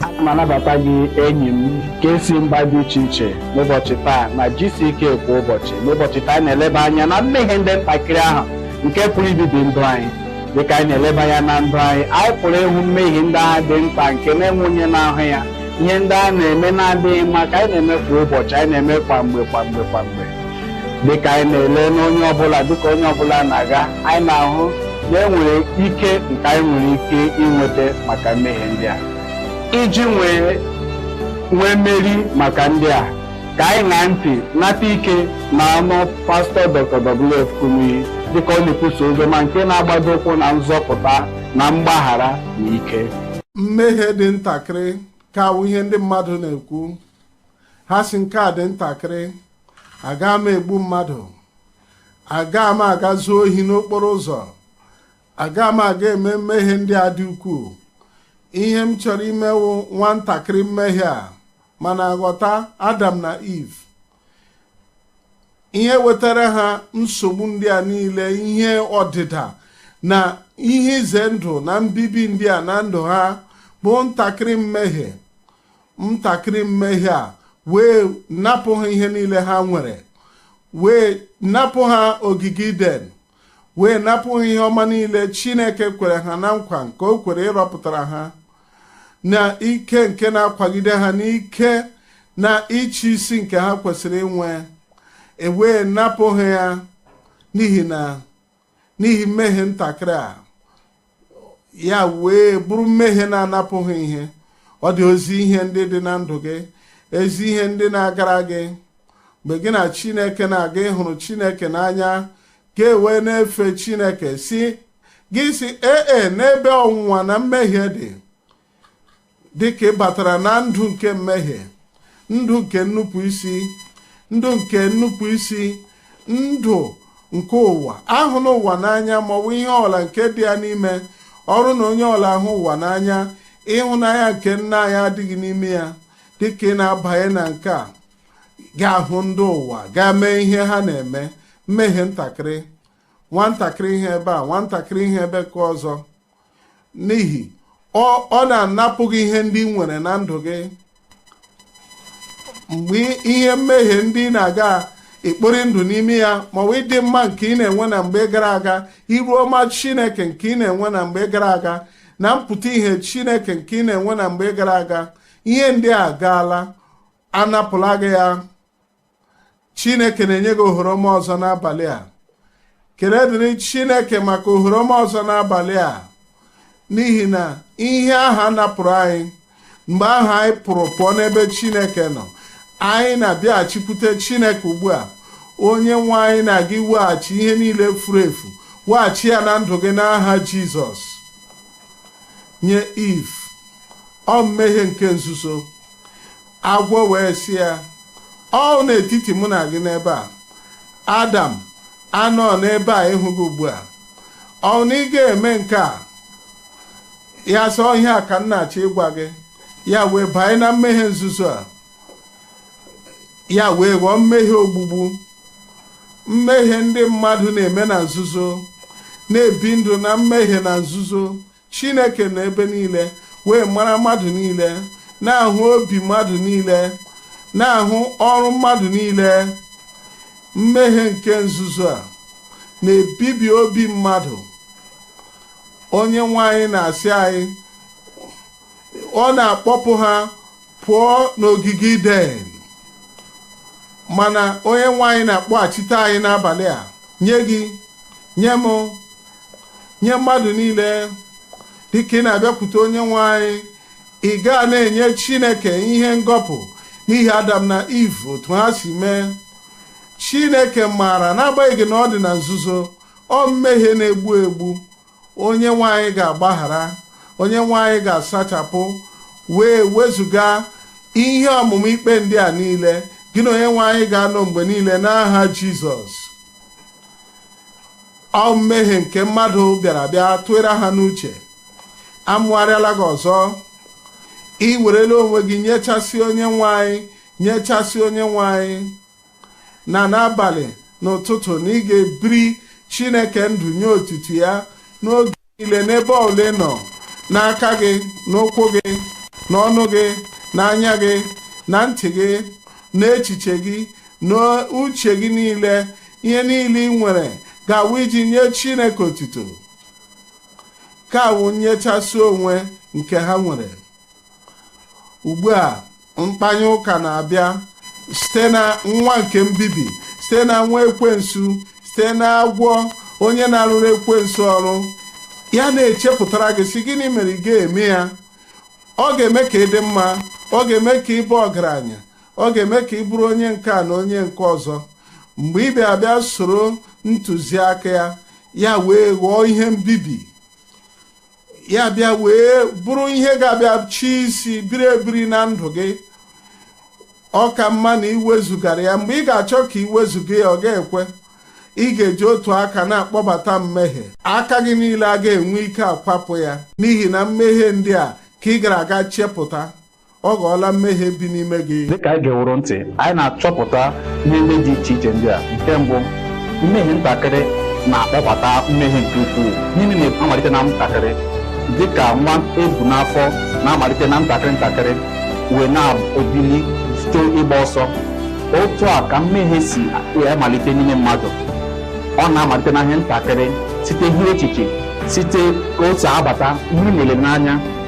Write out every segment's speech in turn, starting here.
ana m anabata gị enyi m nke si mba dị iche iche n'ụbọchị taa na GCK kwa ụbọchị n'ụbọchị taa anyị na-eleba anya na mmehie ndị ntakịrị ahụ nke pụrụ ibibi ndụ anyị dịka anyị na-eleba anya na ndụ anyị anyị pụrụ ịhụ mmehie ndị ahụ dị nta nke na-enwe onye na-ahụ ya ihe ndị a na-eme na-adịghị mma ka anyị na-eme kwa ụbọchị anyị na-eme kwa mgbe kwa mgbe kwa mgbe dịka anyị na-ele n'onye ọbụla dịka onye ọbụla na-aga anyị na-ahụ na enwere ike nke anyị nwere ike inweta maka mmehie ndị a iji nwee nwee mmeri maka ndị a ka anyị ṅaa ntị nata ike na ọnụ pastọ Dr. WF Kumuyi dịka ọ na-ekwusa oziọma nke na-agbado ụkwụ na nzọpụta na mgbaghara na ike mmehie dị ntakịrị ka wụ ihe ndị mmadụ na-ekwu ha si nke a dị ntakịrị aga m egbu mmadụ aga m aga zuo ohi n'okporo ụzọ aga m aga eme mmehie ndị a dị ukwuu ihe m chọrọ ime wụ nwantakịrị mmehie a mana ghọta adam na iv ihe wetara ha nsogbu ndị a niile ihe ọdịda na ihe ize ndụ na mbibi ndị a na ndụ ha bụ ntakịrị mmehie ntakịrị mmehie a wee napụ ha ihe niile ha nwere wee napụ ha ogige iden wee napụ ha ihe ọma niile chineke kwere ha na nkwa nke o kwere ịrọpụtara ha na ike nke na-akwagide ha n'ike na ịchị isi nke ha kwesịrị inwe ewee napụ ha ya n'ihi na n'ihi mmehie ntakịrị a ya wee bụrụ mmehie na-anapụ ha ihe ọ dị ezi ihe ndị dị na ndụ gị ezi ihe ndị na-agara gị mgbe gị na chineke na-aga ị hụrụ chineke n'anya gị ewee na-efe chineke si gị sị ee e n'ebe ọnwụnwa na mmehie dị dị ka ị batara na ndụ nke mmehie ndụ nke nnupụ isi ndụ nke nnupụ isi ndụ nke ụwa ahụna ụwa n'anya maọbụ ihe ọbụla nke dị ya n'ime ọ bụrụ na onye ọbụla ahụ ụwa n'anya ịhụnanya nke nna anyị adịghị n'ime ya dịka ị na-abanye na nke a ga-ahụ ndị ụwa gaa mee ihe ha na-eme mmehie ntakịrị nwantakịrị ihe ebe a nwantakịrị ihe ebe nke ọzọ n'ihi ọ ọ na-anapụ gị ihe ndị ị nwere na ndụ gị mgbe ihe mmehie ndị ị na-aga ekpori ndụ n'ime ya maọbụ ịdị mma nke ị na-enwe na mgbe gara aga iru ọma chineke nke ị na-enwe na mgbe gara aga na mpụta ihe chineke nke ị na-enwe na mgbe gara aga ihe ndị a gaala anapụla gị ya chineke na-enye gị ohere ọma ọzọ n'abalị a kele dịrị chineke maka ohere ọma ọzọ n'abalị a n'ihi na ihe ahụ a napụrụ anyị mgbe ahụ anyị pụrụ pụọ n'ebe chineke nọ anyị na-abịaghachikwute chineke ugbu a onye nwe anyị na-aga iweghachi ihe niile furu efu weghachi ya na ndụ gị n'aha jizọs nye iv ọ mmehie nke nzuzo agwọ wee sị ya ọ wụ n'etiti mụ na gị n'ebe a adam anọ n'ebe a ịhụ gị ugbu a ọ wụ na ị ga-eme nke a ya sị ọ ihe a ka m na-achọ ịgwa gị ya wee banye na mmehie nzuzo a ya wee ghọọ mmehie ogbugbu mmehie ndị mmadụ na-eme na nzuzo na-ebi ndụ na mmehie na nzuzo Chineke nọ ebe niile wee mara mmadụ niile, na-ahụ obi mmadụ niile, na-ahụ ọrụ mmadụ niile. Mmehie nke nzuzo a na-ebibi obi mmadụ. Onye nwe anyị na-asị anyị, ọ na-akpọpụ ha pụọ n'ogige iden mana onye nwe anyị na-akpọghachite anyị n'abalị a nye gị nye m nye mmadụ niile dịka ị na-abịakwute onye nwe anyị ị gaa na-enye chineke ihe ngọpụ n'ihi adam na iv otu ha si mee chineke maara n'agbanyeghị na ọ dị na nzuzo ọ wụ mmehie na-egbu egbu onye nwe anyị ga-agbaghara onye nwe anyị ga-asachapụ wee wezụga ihe ọmụma ikpe ndị a niile gị na onye nwe anyị ga-anọ mgbe niile n'aha jizọs ọ mmehie nke mmadụ bịara bịa tụere ha n'uche amụgharịala gị ọzọ ị werela onwe gị nyechasị onye nwe anyị nyechasị onye nwe anyị na n'abalị n'ụtụtụ na ị ga-ebiri chineke ndụ nye otuto ya n'oge niile n'ebe ọ bụla ị nọ n'aka gị n'ụkwụ gị n'ọnụ gị n'anya gị na ntị gị n'echiche gị n'uche gị niile ihe niile ị nwere ga-awụ iji nye chineke otuto nke a wụ nyechasị onwe nke ha nwere ugbu a mkpanye ụka na-abịa site na nwa nke mbibi site na nwa ekwensu site na agwọ onye na-arụrụ ekwensu ọrụ ya na-echepụtara gị sị gịnị mere ị ga-eme ya ọ ga-eme ka ị dị mma ọ ga-eme ka ị baa ọgaranya ọ ga-eme ka ị bụrụ onye nke a na onye nke ọzọ mgbe ị bịa bịa soro ntụziaka ya ya wee ghọọ ihe mbibi ya bịa wee bụrụ ihe ga-abịa chị isi biri ebiri na ndụ gị ọ ka mma na i wezugara ya mgbe ị ga-achọ ka i wezuga ya ọ ga-ekwe ị ga-eji otu aka na-akpọbata mmehie aka gị niile a ga-enwe ike akwapụ ya n'ihi na mmehie ndị a ka ị gara aga chepụta ọ ghọọla mmehie bi n'ime gị dịka anyị geworo ntị anyị na-achọpụta ihe ndị dị iche iche ndị a nke mbụ mmehie ntakịrị na-akpọbata mmehie nke ukwuu niile na-amalite na ntakịrị dịka nwa e bu n'afọ na-amalite na ntakịrị ntakịrị wee na-ebili site ịgba ọsọ otu a ka mmehie si amalite n'ime mmadụ ọ na-amalite na ihe ntakịrị site ihe echiche site ka o si abata ihe nlele n'anya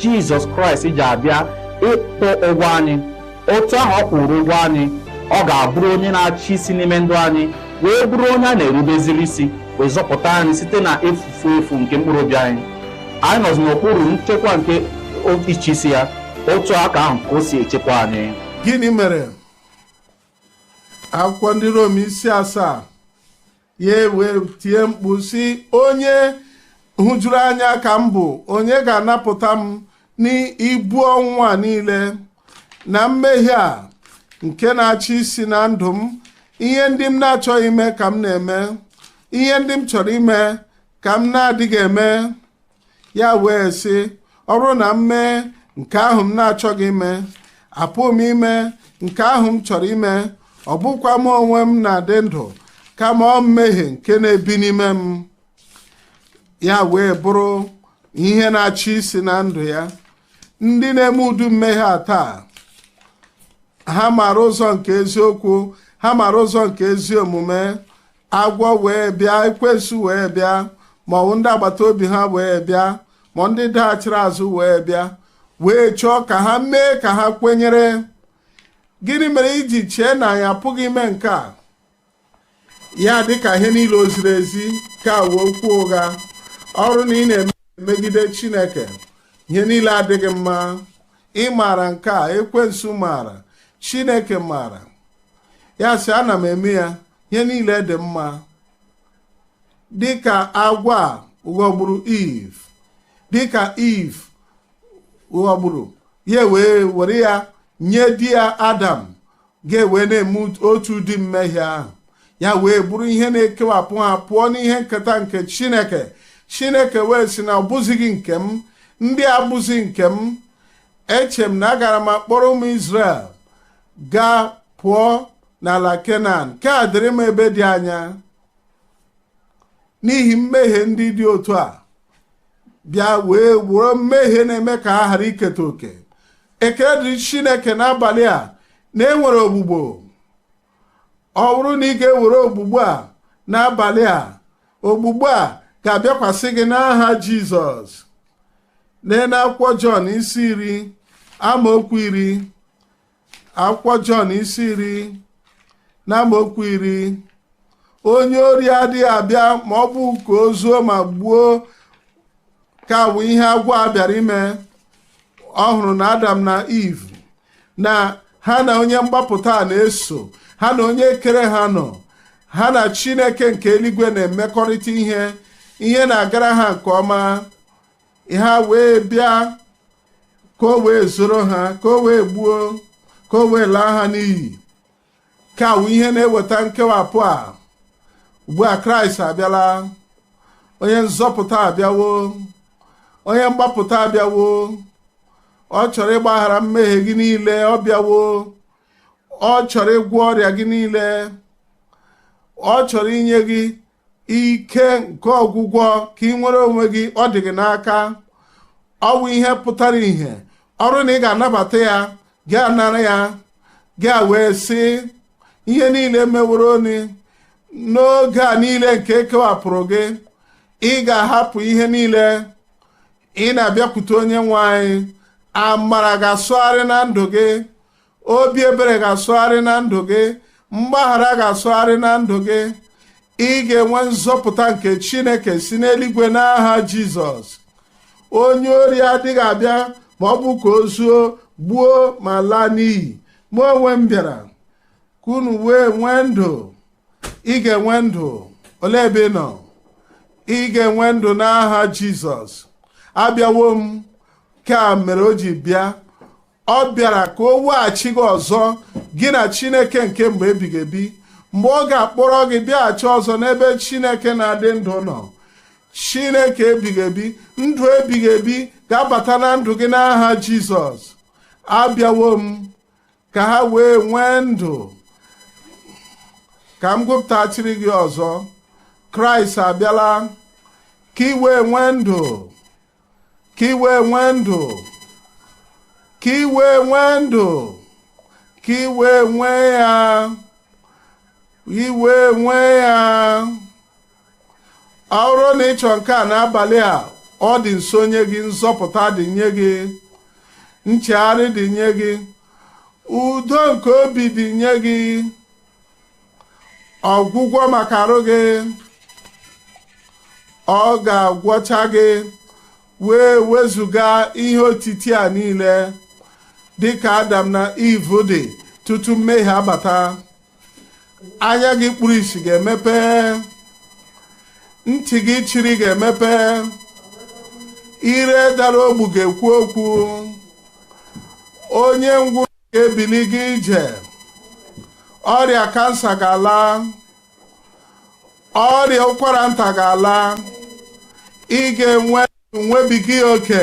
jizọs kraịst ji abịa ịkwụ ụgwọ anyị otu ahụ ọ kwụrụ ụgwọ anyị ọ ga-abụrụ onye na-achị isi n'ime ndụ anyị wee bụrụ onye a na-erubeziri isi wee zọpụta anyị site na efufu efu nke mkpụrụ obi anyị anyị nọzi n'okpuru nchekwa nke ịchị isi ya otu aka ahụ ka o si echekwa anyị gịnị mere akwụkwọ ndị rom isi asaa ya wee tie mkpu sị onye hụjuru anya ka m bụ onye ga-anapụta m n'ibu ọnwụnwa niile na mmehie a nke na-achị isi na ndụ m ihe ndị m na-achọghị ime ka m na-eme ihe ndị m chọrọ ime ka m na-adịghị eme ya wee sị ọ bụrụ na m mee nke ahụ m na-achọghị ime apụghị m ime nke ahụ m chọrọ ime ọ bụkwa m onwe m na-adị ndụ kama ọ mmehie nke na-ebi n'ime m ya wee bụrụ ihe na-achị isi na ndụ ya ndị na-eme ụdị mmehie a taa ha maara ụzọ nke eziokwu ha maara ụzọ nke ezi omume agwọ wee bịa ekwensu wee bịa ma ọ bụ ndị agbata obi ha wee bịa ma ndị daghachiri azụ wee bịa wee chọọ ka ha mee ka ha kwenyere gịnị mere i ji chee na anyị apụghị ime nke a ya dị ka ihe niile o ziri ezi ka wee okwu ụgha ọ bụrụ na ị na-emegide chineke ihe niile adịghị mma ị maara nke a ekwensu maara chineke maara ya sị ana m eme ya ihe niile dị mma dịka agwọ ahụ ghọgburu iv dịka iv ghọgburu ya wee were ya nye di ya adam ha ewee na-eme otu ụdị mmehie ahụ ya wee bụrụ ihe na-ekewapụ ha pụọ n'ihe nketa nke chineke chineke wee sị na ọ bụzighị nke m ndị a abụzi nke m eche m na agara m akpọrọ ụmụ izrel gaa pụọ n'ala kenan nke a dịrị m ebe dị anya n'ihi mmehie ndị dị otu a bịa wee wụrụ mmehie na-eme ka ha ghara iketa oke ekele dịrị chineke n'abalị a na enwere ogbugbo ọ bụrụ na ị ga-ewere ogbugbo a n'abalị a ogbugbo a ga-abịakwasị gị n'aha jizọs lee n'akwụkwọ jọn isi iri amaokwu iri akwụkwọ Jọn isi iri n'amaokwu iri onye ori adịghị abịa ma ọ bụ ka o zuo ma gbuo ka bụ ihe agwọ a bịara ime ọ hụrụ na adam na iv na ha na onye mgbapụta a na-eso ha na onye kere ha nọ ha na chineke nke eluigwe na-emekọrịta ihe ihe na-agara ha nke ọma ya wee bịa ka o wee zoro ha ka o wee gbuo ka o wee laa ha n'iyi ka wụ ihe na-eweta nkewapụ a ugbu a kraịst abịala onye nzọpụta abịawo onye mgbapụta abịawo ọ chọrọ ịgbaghara mmehie gị niile ọ bịawo ọ chọrọ ịgwọ ọrịa gị niile ọ chọrọ inye gị ike nke ọgwụgwọ ka i nwere onwe gị ọ dị gị n'aka ọ bụ ihe pụtara ihe ọ bụrụ na ị ga-anabata ya gị anara ya gị wee sị ihe niile meworo ni n'oge a niile nke e kewapụrụ gị ị ga-ahapụ ihe niile ị na-abịakwute onye nwe anyị amara ga-asụgharị na ndụ gị obi ebere ga-asụgharị na ndụ gị mgbaghara ga-asụgharị na ndụ gị ị ga-enwe nzọpụta nke chineke si n'eluigwe n'aha jizọs onye ori adịghị abịa ma ọ bụ ka o zuo gbuo ma laa n'iyi mụ onwe m bịara ka unu wee nwee ndụ ị ga-enwe ndụ olee ebe ị nọ ị ga-enwe ndụ n'aha jizọs abịawo m nke a mere o ji bịa ọ bịara ka o weghachi gị ọzọ gị na chineke nke mgbe ebighị ebi mgbe ọ ga-akpọrọ gị bịaghachi ọzọ n'ebe chineke na-adị ndụ nọ chineke ebighị ebi ndụ ebighị ebi ga-abata na ndụ gị n'aha jizọs abịawo m ka ha wee nwee ndụ ka m gụpụtachiri gị ọzọ kraịst abịala ka i wee nwee ndụ ka i wee nwee ndụ ka i wee nwee ndụ ka i wee nwee ya i wee nwee ya ọ bụrụ na ị chọrọ nke a n'abalị a ọ dị nso nye gị nzọpụta dị nye gị nchegharị dị nye gị udo nke obi dị nye gị ọgwụgwọ maka arụ gị ọ ga-agwọcha gị wee wezụga ihe otiti a niile dịka adam na iv dị tutu mmehie abata anya gị kpuru isi ga-emepe ntị gị chiri ga-emepe ire dara ogbu ga-ekwu okwu onye ngwụ ebili gaa ije ọrịa kansa ga-ala ọrịa ụkwara nta ga-ala ị ga-enwe nwebiga ya oke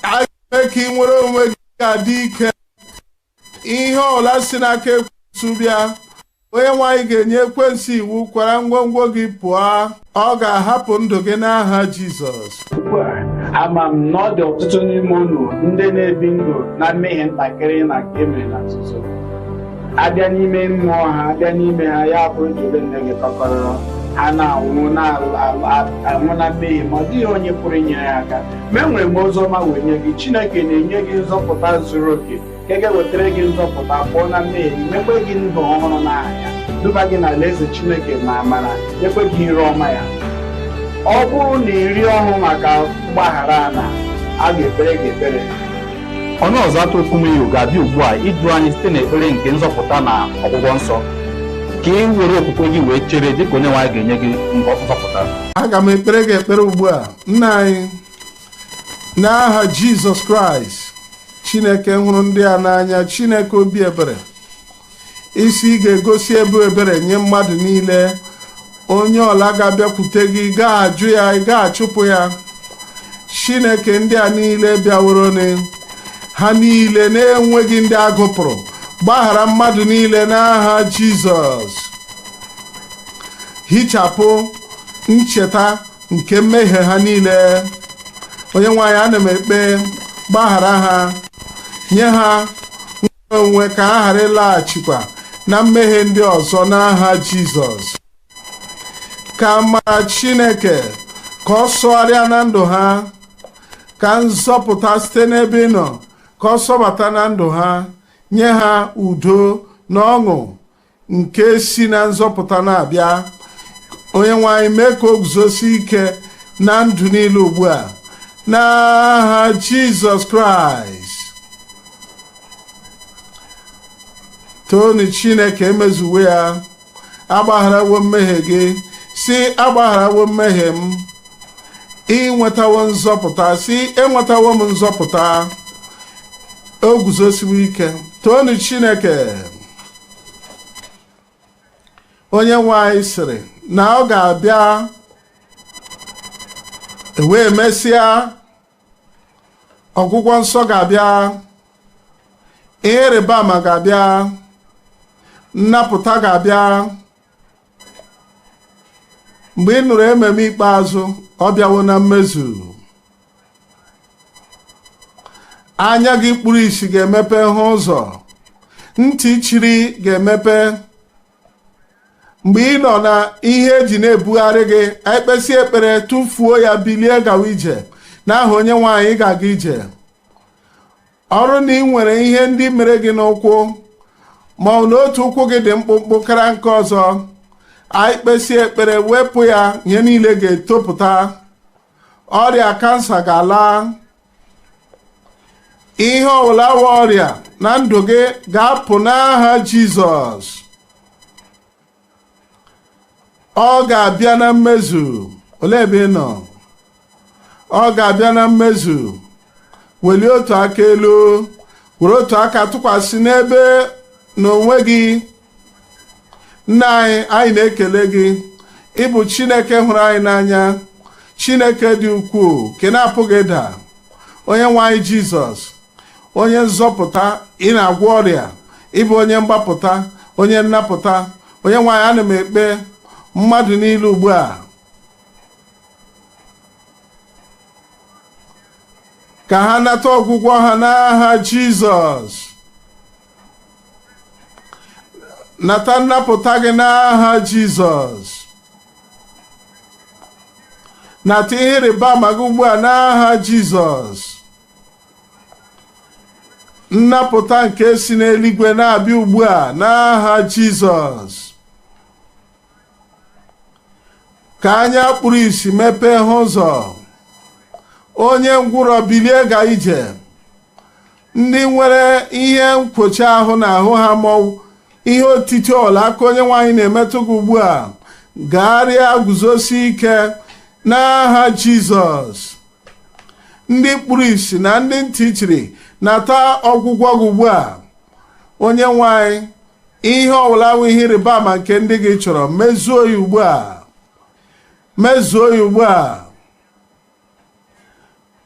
a ga-eme ka ị nwere onwe gị ga-adị ike ihe ọbụla si n'aka ekwensu bịa onye nwe anyị ga-enye ekwensu iwu kwara ngwongwo gị pụọ ọ ga-ahapụ ndụ gị n'aha Jizọs ama m na ọ dị ọtụtụ n'ime unu ndị na-ebi ndụ na mmehie ntakịrị na nke emere na nzuzo abịa n'ime mmụọ ha abịa n'ime ha ya bụrụ jere nne gị tọgbọrọ ha na-anwụ na-anwụ na mmehie ma ọ dịghị onye pụrụ inyere ya aka ma enwere m ozi ọma wee nye gị Chineke na-enye gị nzọpụta zuru oke nke ga-ewetara gị nzọpụta pụọ na mmehie gị nyekwe gị ndụ ọhụrụ n'aha ya duba gị n'alaeze chineke na amara nyekwe gị iru ọma ya ọ bụrụ na ị rịọwo maka mgbaghara a na a ga-ekpere gị ekpere onye ọzụzụ atụrụ kumuyi ga-abịa ugbu a idu anyị site n'ekpere nke nzọpụta na ọgwụgwọ nsọ ka ị were okwukwe gị wee chere dịka onye nwe anyị ga-enye gị mbọ nzọpụta aga m ekpere gị ekpere ugbu a nna anyị n'aha jizọs kraịst chineke hụrụ ndị a n'anya chineke obi ebere ị sị ị ga-egosi ebe ebere nye mmadụ niile onye ọbụla ga-abịakwute gị ị gaghị ajụ ya ị gaghị achụpụ ya chineke ndị a niile bịaworonị ha niile na-enweghị ndị a gụpụrụ gbaghara mmadụ niile n'aha jizọs hichapụ ncheta nke mmehie ha niile onye nwe anyị ana m ekpe gbaghara ha nye ha nnwere onwe ka ha ghara ịlaghachikwa na mmehie ndị ọzọ n'aha Jizọs ka amara Chineke ka ọ sọgharịa na ndụ ha ka nzọpụta site n'ebe ị nọ ka ọ sọbata na ndụ ha nye ha udo na ọṅụ nke si na nzọpụta na-abịa onye nwe anyị mee ka o guzosie ike na ndụ niile ugbu a n'aha jizọs kraịst toonu chineke emezuwo ya agbagharawo mmehie gị sị agbagharawo mmehie m i nwetawo nzọpụta sị enwetawo m nzọpụta o guzosiwo ike toonu chineke onye nwe anyị sịrị na ọ ga-abịa wee mesịa ọgwụgwọ nsọ ga-abịa ihe ịrịba ama ga-abịa nnapụta ga-abịa mgbe ị nụrụ amen ikpeazụ ọ bịawo na mmezu anya gị kpuru isi ga-emepe hụ ụzọ ntị chiri ga-emepe mgbe ị nọ na ihe e ji na-ebugharị gị anyị kpesịa ekpere tụfuo ya bilie gawa ije n'aha onye nwe anyị ga-aga ije ọ bụrụ na ị nwere ihe ndị mere gị n'ụkwụ ma ọ bụ na otu ụkwụ gị dị mkpụmkpụ karịa nke ọzọ anyị kpesịa ekpere wepụ ya ihe niile ga-etopụta ọrịa kansa ga-ala ihe ọbụla bụ ọrịa na ndụ gị ga-apụ n'aha jizọs ọ ga-abịa na mmezu olee ebe ị nọ ọ ga-abịa na mmezu welie otu aka elu were otu aka tụkwasị n'ebe n'onwe gị nna anyị anyị na-ekele gị ị bụ chineke hụrụ anyị n'anya chineke dị ukwuu nke na-apụghị ịda onye nwe anyị jizọs onye nzọpụta ị na-agwọ ọrịa ị bụ onye mgbapụta onye nnapụta onye nwe anyị ana m ekpe mmadụ niile ugbu a ka ha nata ọgwụgwọ ha n'aha jizọs nata nnapụta gị n'aha jizọs nata ihe ịrịba ama gị ugbu a n'aha jizọs nnapụta nke si n'eluigwe na-abịa ugbu a n'aha jizọs ka anya kpuru isi mepee hụ ụzọ onye ngwụrọ bilie gaa ije ndị nwere ihe nkwochi ahụ n'ahụ ha ma ọ wụ ihe otiti ọwụla aka onyenwe anyị na-emetụ gị ugbu a gagharịa guzosi ike n'aha jizọs ndị kpuru isi na ndị ntị chiri nata ọgwụgwọ gị ugbu a onyenwe anyị ihe ọbụla bụ ihe ịrịba ama nke ndị gị chọrọ mezuo ya ugbu a mezuo ya ugbu a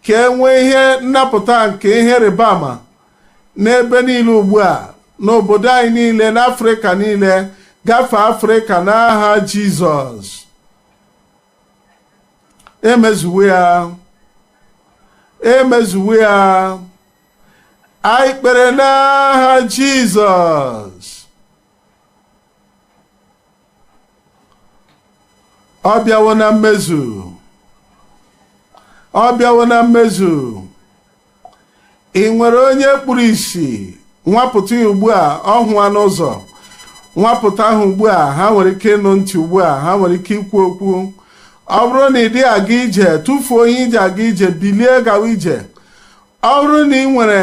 ka e nwee ihe nnapụta nke ihe ịrịba ama n'ebe niile ugbu a n'obodo anyị niile n'afrịka niile gafee afrịka n'aha jizọs e mezuwo ya e mezuwo ya anyị kpere n'aha jizọs ọ bịawo na mmezu ọ bịawo na mmezu i nwere onye kpuru isi nwapụta ya ugbu a ọ hụwana ụzọ nwapụta ha ugbu a ha nwere ike ịnụ ntị ugbu a ha nwere ike ikwu okwu ọ bụrụ na ị dịghị aga ije tụfuo ihe i ji aga ije bilie gawa ije ọ bụrụ na i nwere